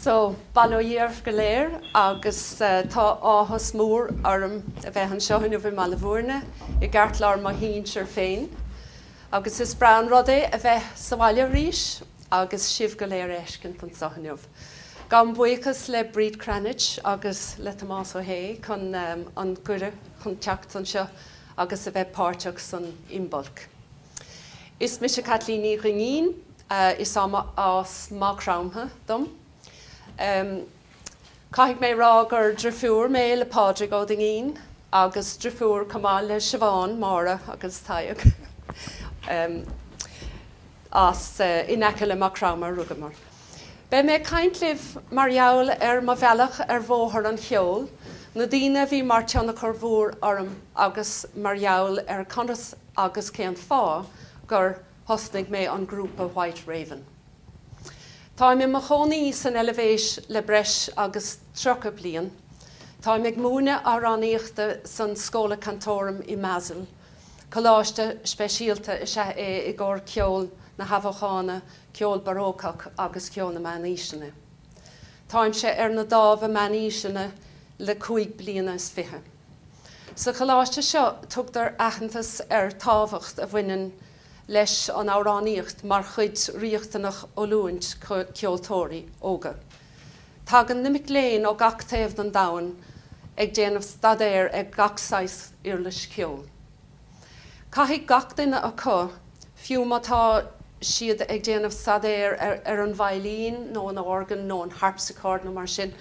So, bail ó Dhia oraibh go léir agus tá áthas mór orm a bheith anseo inniu i mBaile Bhúirne, i gceartlár mo cheantar féin. Agus is breá an rud é a bheith sa bhaile arís agus sibh go léir a fheiscint anseo inniu. Gabhaim buíochas le Bríd Cranitch agus le Tomás Ó hAodh chun an gcuireadh chun teacht anseo agus a bheith páirteach san Imbolc. Is mise Caitlín Ní Dhuinnín, is as Má Chromtha dom. Caithfidh mé a rá gur drifiúr mé le Pádraig Ó Duinnín agus drifiúr chomh maith le Siobhán, Máire agus Tadhg. As in aice le Má Chromtha a rugamar. Beidh mé ag caint libh mar gheall ar mo bhealach ar bhóthar an cheoil, na daoine a bhí mar tionchar mhór orm agus mar gheall ar conas agus cén fáth gur thosnaigh mé an grúpa White Raven. Táim i mo chónaí san Eilbhéis le breis agus tríocha bliain. Táim ag múineadh amhránaíochta san Schola Cantorum i mBasel. Coláiste speisialta is ea é i gcomhair ceol na hAthbheochana, ceol Barócach agus ceol na Meánaoiseanna. Táimse ar an Dámh Meánaoiseanna le cúig bliana is fiche. Sa choláiste seo tugtar aitheantas ar tábhacht a bhaineann leis an amhránaíocht mar chuid riachtanach d'oiliúint ceoltóirí óga. Tagann na mic léinn ó gach taobh den domhan ag déanamh staidéir ar gach saghas uirlis cheoil. Caithfidh gach duine acu, fiú má tá siad ag déanamh staidéir ar an veidhlín nó an organ nó an harpsichord nó mar sin,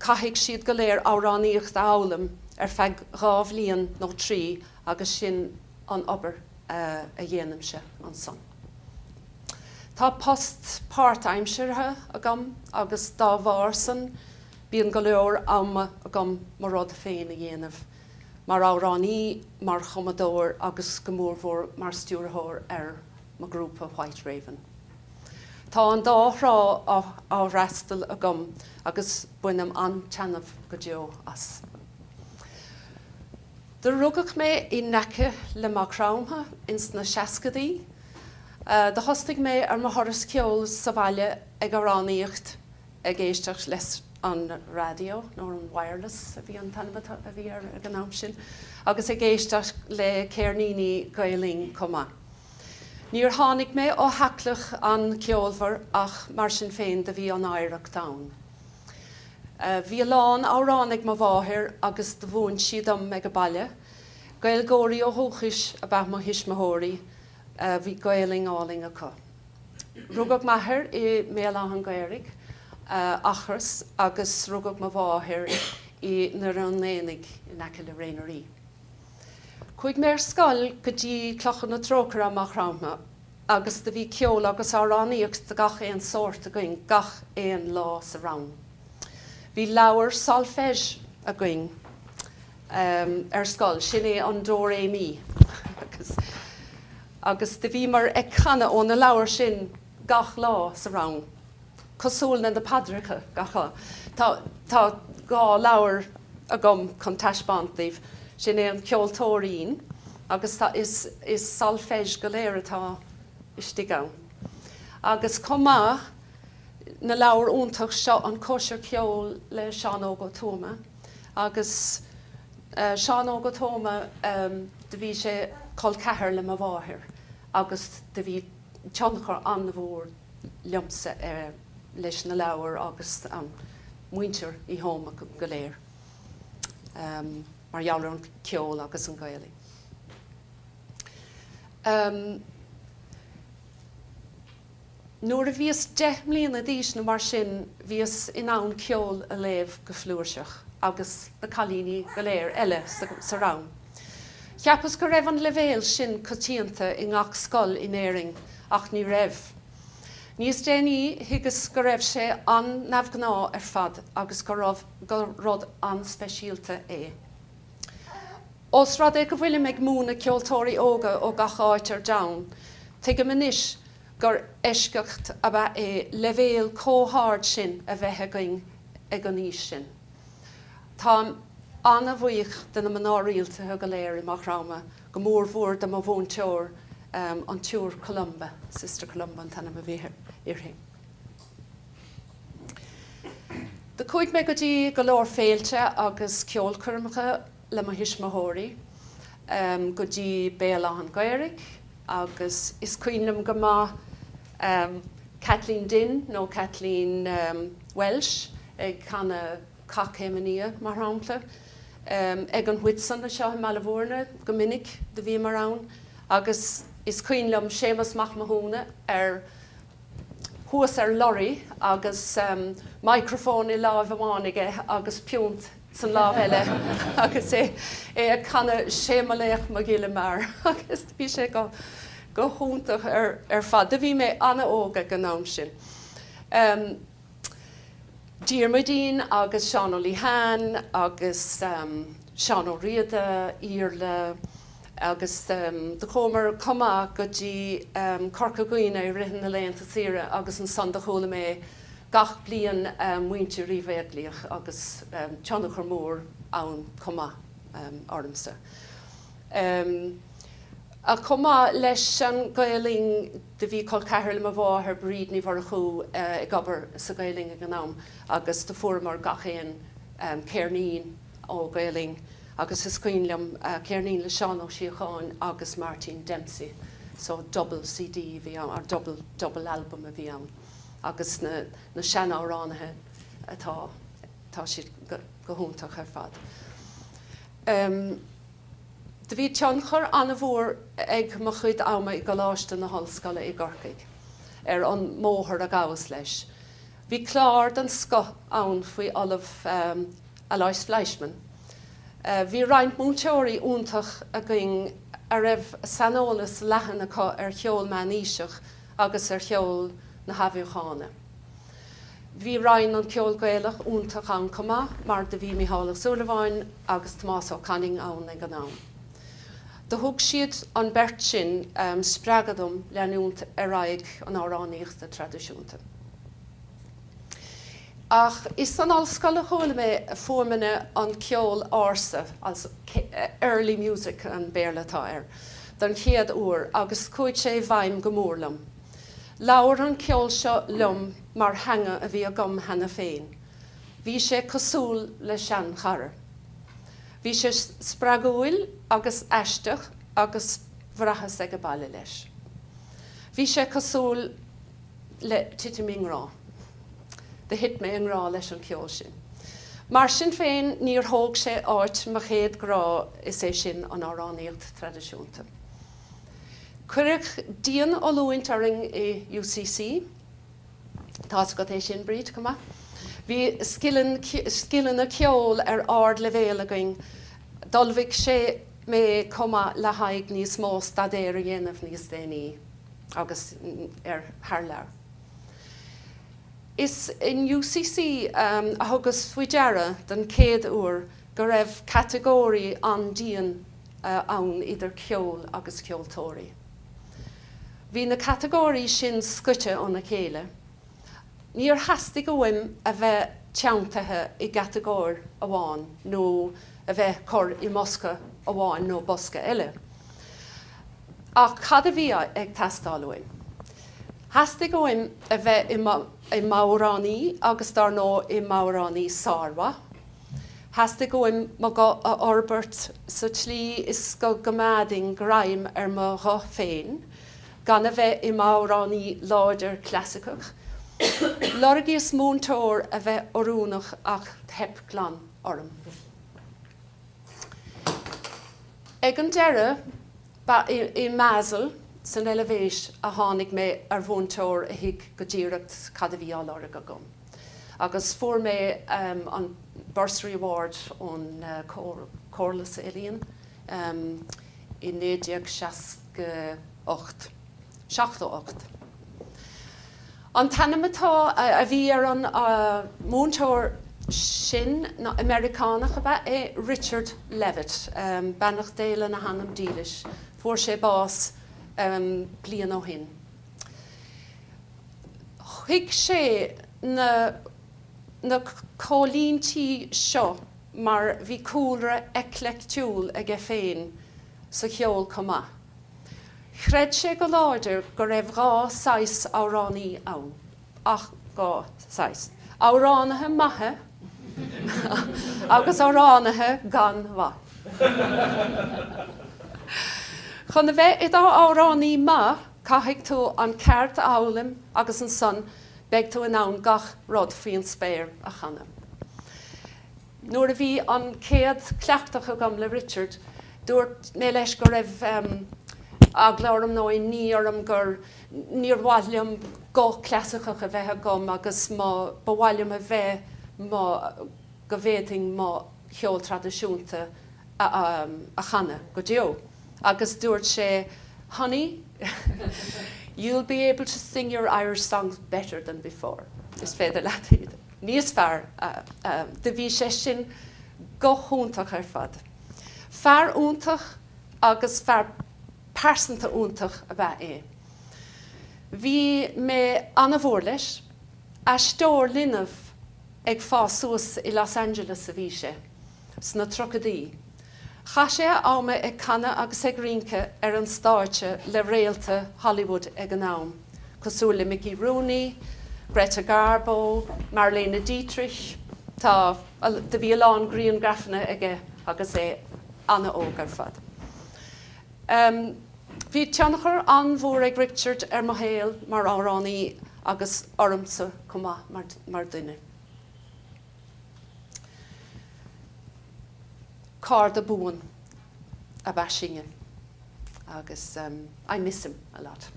caithfidh siad go léir amhránaíocht a fhoghlaim ar feadh dhá bhliain nó trí agus sin an obair a dhéanaimse ansan. Tá post páirtaimseartha agam agus dá bharr san bíonn go leor ama agam mo rud féin a dhéanamh, mar amhránaí, mar chumadóir agus go mórmhór mar stiúrthóir ar mo grúpa White Raven. Tá an dá thrá á fhreastal agam agus bainim an-taitneamh go deo as. Do rugadh mé in aice le Má Chromtha ins na seascadaí. Do thosnaigh mé ar mo thuras ceoil sa bhaile ag amhránaíocht ag éisteacht leis an raidió, nó an wireless a bhí an t-ainm atá a bhí air ag an am sin, agus ag éisteacht le céirníní Gael Linn chomh maith. Níor tháinig mé ó theaghlach an-ceolmhar ach mar sin féin do bhí an oidhreacht ann. Bhí a lán amhrán ag mo mháthair agus do mhúin sí dom ag a baile. Gaeilgeoirí ó dhúchais ab ea mo thuismitheoirí. Bhí Gaolainn álainn acu. Rugadh m'athair i mBéal Átha'n Ghaorthaidh, Eachros, agus rugadh mo mháthair i nDoire an Aonaigh in aice le Ré na nDoirí. Chuaigh mé ar scoil go dtí Clochar na Trócaire i Maigh Chromtha agus do bhí ceol agus amhránaíocht de gach aon sórt againn gach aon lá sa rang. Bhí leabhar solfège againn ar scoil, sin é an Do Ré Mi agus do bhíomar ag canadh ó na leabhair sin. gach lá sa rang. Cosúil le na paidreacha gach lá, tá dhá leabhar agam chun taispeáint daoibh. Sin é an ceoltóirín agus tá, is solfège go léir atá istigh ann. Agus chomh maith, na leabhar iontach seo, An Cóisir Cheoil le Seán Óg Ó Tuama agus Seán Óg Ó Tuama, do bhí sé col ceathair le mo mháthair agus do bhí, tionchar an-mhór liomsa leis na leabhair agus an muintir Uí Thuama go léir mar gheall ar an ceol agus an Gaelainn. Nuair a bhíos deich mbliana d'aois nó mar sin bhíos in ann ceol a léamh go flúirseach agus na cailíní go léir eile sa rang. Cheapas go raibh an leibhéal sin coitianta i ngach scoil in Éirinn ach ní raibh. Níos déanaí thuigeas go raibh sé an-neamhghnáth ar fad agus go raibh gur rud an-speisialta é. Ós rud é go bhfuilim ag múineadh ceoltóirí óga ó gach áit ar domhan, tuigim anois gur eisceacht ab ea é leibhéal comh hard sin a bheith againn ag an aois sin. Táim an-bhuíoch de na mná rialtaithe go léir i Maigh Chromtha, go mór mhór de mo mhúinteoir, an tSiúr Columba, Sister Columba an t-ainm a bhí uirthi. Do chuaigh mé go dtí go leor féilte agus ceolchoirmeacha le mo thuismitheoirí, go dtí Béal Átha'n Ghaorthaidh agus is cuimhin liom go maith Caitlín Dinn nó Caitlín Welsh ag canadh, Cath Chéim an Fhia, mar shampla, ag an Whitsun anseo i mBaile Mhúirne go minic do bhíomar ann agus is cuimhin liom Séamus Mac Mathúna ar thuas ar lorry agus microphone i láimh amháin aige agus piúnt san lámh eile agus é é ag canadh Sé mo laoch mo ghile mear agus bhí sé go go hiontach ar ar fad. Do bhí mé ana-óg ag an am sin. Diarmuidín agus Seán Ó Liatháin agus Seán Ó Riada, Iarla, agus do chuamar chomh maith go dtí Corca Dhuibhne i rith na laethanta saoire agus ansan do chuala mé gach bliain muintir Uí Bheaglaoich agus tionchar mór ann chomh maith ormsa. Chomh maith leis an Gael Linn do bhí col ceathrair le mo mháthair, Bríd Ní Mhurchú, ag obair sa Gael Linn ag an am agus do fuaireamar gach aon céirnín ó Gael Linn agus is cuimhin liom céirnín le Seán Ó Síocháin agus Martin Dempsey so double CD a bhí ann or double double album a bhí ann agus na na sean amhránaithe atá tá siad go go hiontach ar fad. Do bhí tionchar an-mhór ag mo chuid ama i gColáiste na hOllscoile i gCorcaigh ar an mbóthar a ghabhas leis. Bhí clár den scoth ann faoin Ollamh Aloys Fleischmann. Bhí roinnt múinteoirí iontach againn a raibh saineolas leathan acu ar cheol meánaoiseach agus ar cheol na hAthbheochana. Bhí Roinn an Cheoil Ghaelaigh iontach ann chomh maith mar do bhí Mícheál Ó Súilleabháin agus Tomás Ó Canainn ann ag an am. Do thug siad, an beirt sin, spreagadh dom leanúint ar aghaidh an amhránaíochta traidisiúnta. Ach is san ollscoil a chuala mé fuaimeanna an cheoil ársa, early music an Béarla atá air, don chéad uair agus chuaigh sé i bhfeidhm go mór liom. Labhair an ceol seo liom mar theanga a bhí agam cheana féin. Bhí sé cosúil le seanchara. Bhí sé spreagúil agus aisteach agus bhraitheas ag a baile leis. Bhí sé cosúil le titim i ngrá. Do thit mé i ngrá leis an gceol sin. Mar sin féin, níor thóg sé áit mo chéad grá, is é sin an amhránaíocht traidisiúnta. Cuireadh dian-oiliúint orainn i UCC. Tá's agat é sin, Bríd, chomh maith. Bhí scileanna ceoil ar ard-leibhéal againn. D'ullmhaigh sé mé chomh maith le haghaidh níos mó staidéir a dhéanamh níos déanaí agus ar thar lear. Is in UCC a thugas faoi deara den chéad uair go raibh catagóirí an-dian ann idir ceol agus ceoltóirí. Bhí na catagóirí sin scoite óna chéile. Níor theastaigh uaim a bheith teanntaithe i gcatagóir amháin nó a bheith curth i mbosca amháin nó bosca eile. Ach cad a bhí ag teastáil uaim? Theastaigh uaim a bheith im' amhránaí agus dár ndóigh im' amhránaí sármhaith. Theastaigh uaim mo ghuth a fhorbairt sa tslí is go gcoimeádainn greim ar mo ghuth féin gan a bheith im' amhránaí láidir clasaiceach. Lorgaíos múinteoir a bheadh oiriúnach ach theip glan orm. Ag an deireadh, ba i Basel, san Eilvéis, a tháinig mé ar mhúinteoir a thuig go díreach cad a bhí á lorg agam. agus fuair mé an Bursary Award ón Chomhairle Ealaíon i naoi déag seasca ocht, seachtó ocht. An t-ainm atá, a bhí ar an múinteoir sin ná, Americánach ab ea é, Richard Levitt, beannacht Dé lena anam dílis, fuair sé bás bliain ó shin. Thuig sé na na comhlíntí seo mar bhí cúlra eicleictiúil aige féin sa cheol chomh maith. Chreid sé go láidir go raibh dhá saghas amhránaí ann, ach dhá saghas, amhránaithe maithe agus amhránaithe gan mhaith. Chun a bheith i do amhránaí maith, Caithfidh tú an cheird a fhoghlaim agus ansan beidh tú in ann gach rud faoi an spéir a chanadh. Nuair a bhí an chéad cleachtadh agam le Richard dúirt mé leis go raibh eagla orm nó inní orm gur níor mhaith liom guth clasaiceach a bheith agam agus mo ba mhaith liom a bheith mo go bhféadfainn mo cheol traidisiúnta a a chanadh go deo agus dúirt sé Honey, you'll be able to sing your Irish songs better than before, Is féidir leat iad níos fearr a Do bhí sé sin go hiontach ar fad. Fear iontach agus fear pearsanta iontach ab ea é. Bhí mé an-mhór leis. Aisteoir linbh ag fás suas, i Los Angeles a bhí sé. sna tríochaidí. Chaith sé a am ag canadh agus ag rince ar an stáitse le réaltaí Hollywood ag an am, cosúil le Mickey Rooney, Greta Garbo, Marlene Dietrich. Tá a, do bhí a lán griangrafanna aige agus é an-óg ar fad. Um Bhí tionchar an-mhór ag Richard ar mo shaol mar amhránaí agus ormsa chomh maith mar, mar dhuine. Cairde buana ab ea sinn agus I miss him a lot.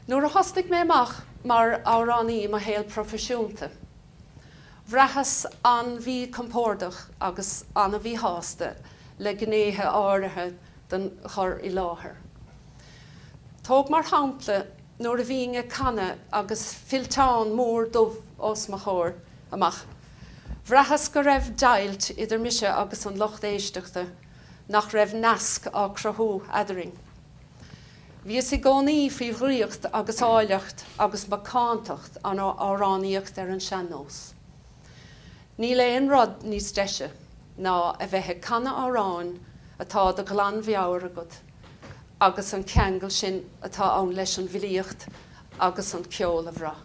Nuair a thosnaigh mé amach mar amhránaí i mo shaol proifisiúnta, bhraitheas an-mhíchompordach agus an-mhíshásta le gnéithe áirithe den chur i láthair. Tóg mar shampla nuair a bhínn ag canadh agus fillteán mór dubh os mo chomhair amach, bhraitheas go raibh deighilt idir mise agus an lucht éisteachta, nach raibh nasc á cruthú eadrainn. Bhíos i gcónaí faoi dhraíocht ag áilleacht agus macántacht an amhránaíocht ar an sean-nós. Níl aon rud níos deise ná a bheith ag canadh amhráin atá de ghlanmheabhair agat. agus an ceangal sin atá ann leis an bhfilíocht agus an ceol a bhrath.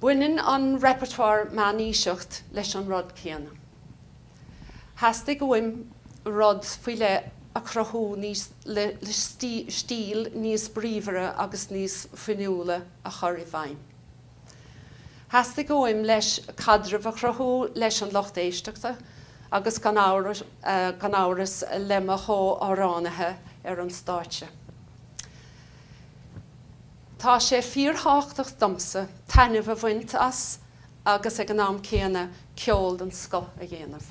Baineann an repertoire meánaoiseach leis an rud céanna. Theastaigh uaim rud faoi leith a chruthú le stíl níos bríomhaire agus níos fuinniúla a chur i bhfeidhm. Theastaigh uaim leis caidreamh a chruthú leis an lucht éisteachta agus gan amhras le mo chomh-amhránaithe ar an stáitse. Tá sé fíorthábhachtach domsa taitneamh a bhaint as agus ag an am céanna ceol den scoth a dhéanamh.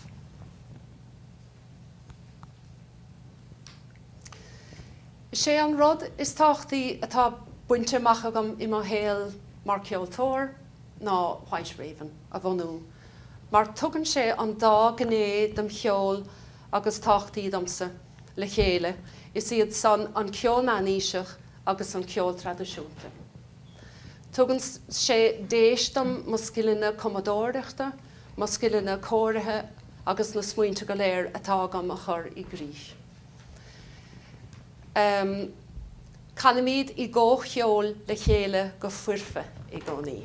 Is é an rud is tábhachtaí atá bainte amach agam i mo shaol mar cheoltóir ná White Raven a bhunú mar tugann sé an dá ghné den cheol is tábhachtaí domsa le chéile, is iad san an ceol meánaoiseach agus an ceol traidisiúnta. Tugann sé deis dom mo scileanna cumadóireachta, mo scileanna cóirithe agus na smaointe go léir atá agam a chur i gcrích. Canaimid i gcomhcheol le chéile go foirfe i gcónaí.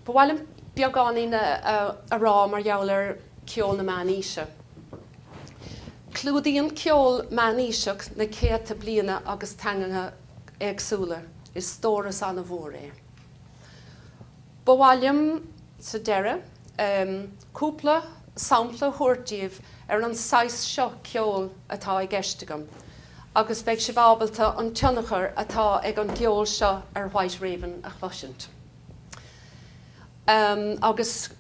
Ba mhaith liom beagáinín a rá mar gheall ar ceol na meánaoise. Clúdaíonn ceol meánaoiseach na céadta bliana agus teangacha éagsúla. Is stóras an-mhór é. Ba mhaith liom, sa deireadh, cúpla sampla a thabhairt díbh ar an saghas seo ceol atá i gceist agam agus beidh sibh ábalta an tionchar atá ag an gceol seo ar White Raven a chloisint. Agus.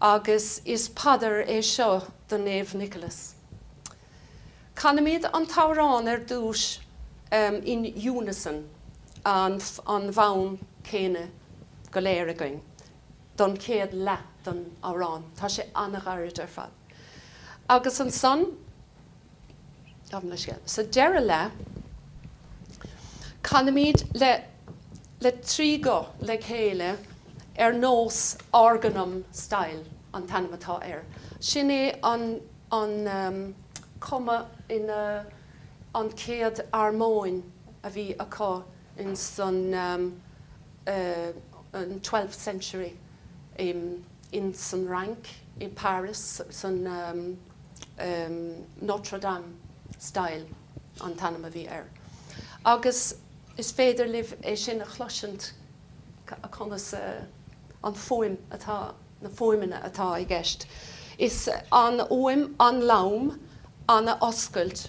Agus is paidir é seo do Naomh Nicholas. Canaimid an t-amhrán ar dtús in unison, an fonn céanna go léir againn don chéad leath den amhrán. Tá sé an-ghairid ar fad. Agus ansan, gabhaim leis sin, sa deireadh leath, canaimid le trí guth le chéile ar nós organum style an t-ainm atá air. Sin é an an cuma ina an chéad armóin a bhí acu in san twelfth century. in san Fhrainc, i bParis, san Notre Dame Style an t-ainm a bhí air. Agus is féidir libh é sin a chloisint conas an fuaim atá, na fuaimeanna atá i gceist. Is an fhuaim, an-lom, an-oscailte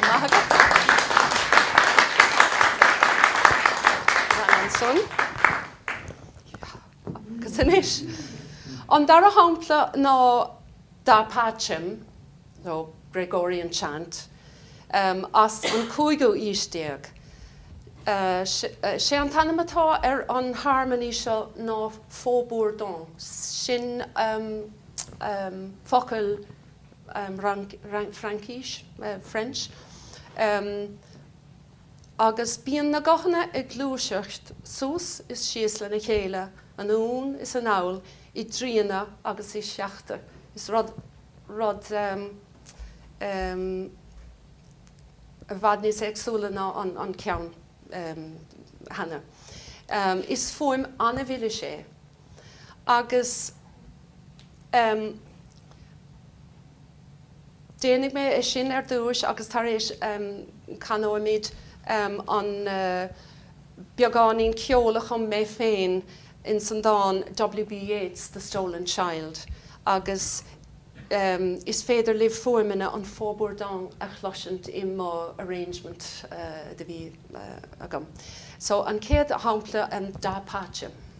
maith agat. Ansan, agus anois, an dara shampla ná Da Pacem, nó Gregorian Chant, as an cúigiú aois déag. Sé an t-ainm atá ar an harmony seo ná Faux-Bourdon, sin focal, Fraincís, French, agus bíonn na guthanna ag gluaiseacht suas is síos lena chéile, anonn is anall, i dtríthe agus i séithe. Is rud i bhfad níos éagsúla ná an ceann chanas. Is fuaim an-mhilis é. agus déanfaidh mé é sin ar dtús agus tar éis canóimid an beagáinín ceol a chum mé féin insan dán WB Yeats, The Stolen Child, agus is féidir libh fuaimeanna an faux-bourdon a chloisint i mo arrangement atá agam. So an chéad shampla, an Da Pace.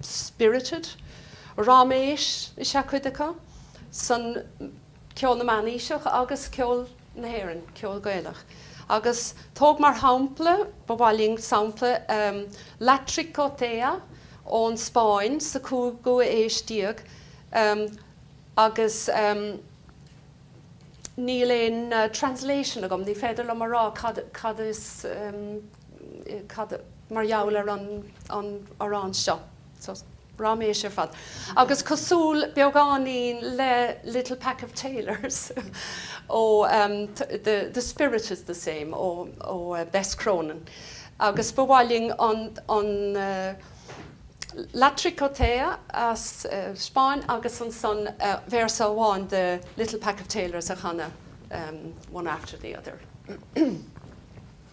spirited. Ráiméis is ea cuid acu, san ceol na meánaoiseach agus ceol na hÉireann, ceol Gaelach. Agus thóg mar shampla, ba mhaith linn sampla La Tricotea ón Spáinn sa chúigiú aois déag agus níl aon translation agam, ní féidir liom a rá cad is, cad mar gheall ar an an amhrán seo? So ráiméis ar fad. Agus cosúil beagáinín le Little Pack of Tailors ó ehm the the spirit is the same ó ó Bess Cronin. Agus ba mhaith linn an an eh La Tricotea as an Spáinn agus ansan eh véarsa amháin de Little Pack of Tailors a chanadh ehm one after the other.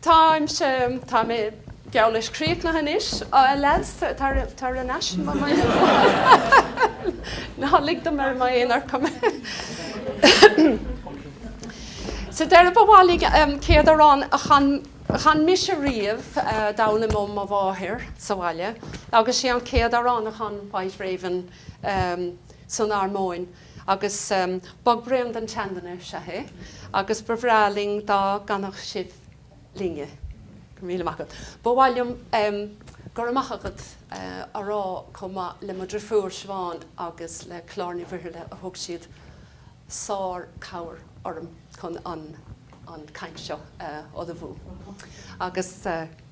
Táimse, tá mé, geall leis críochnaithe anois, alas, tar, tar ar ais insan, ná lig dom i m'aonar orm. Sa deireadh ba mhaith liom um, an chéad amhrán a chan, chan mise riamh, uh, a d'fhoghlaim ó mo mháthair sa bhaile agus sé an chéad amhrán a chan White Raven um, san armóin. Agus Bog Braon don tSeanduine is ea é, agus ba bhreá linn dá gcanfadh sibh linne é. Go raibh míle maith agat. Ba mhaith liom Go raibh maith agat a rá chomh maith le mo dhrifiúr Siobhán agus le Clár Ní Mhuirthile a thug siad sárchabhair orm chun an caint seo a ullmhú. Agus.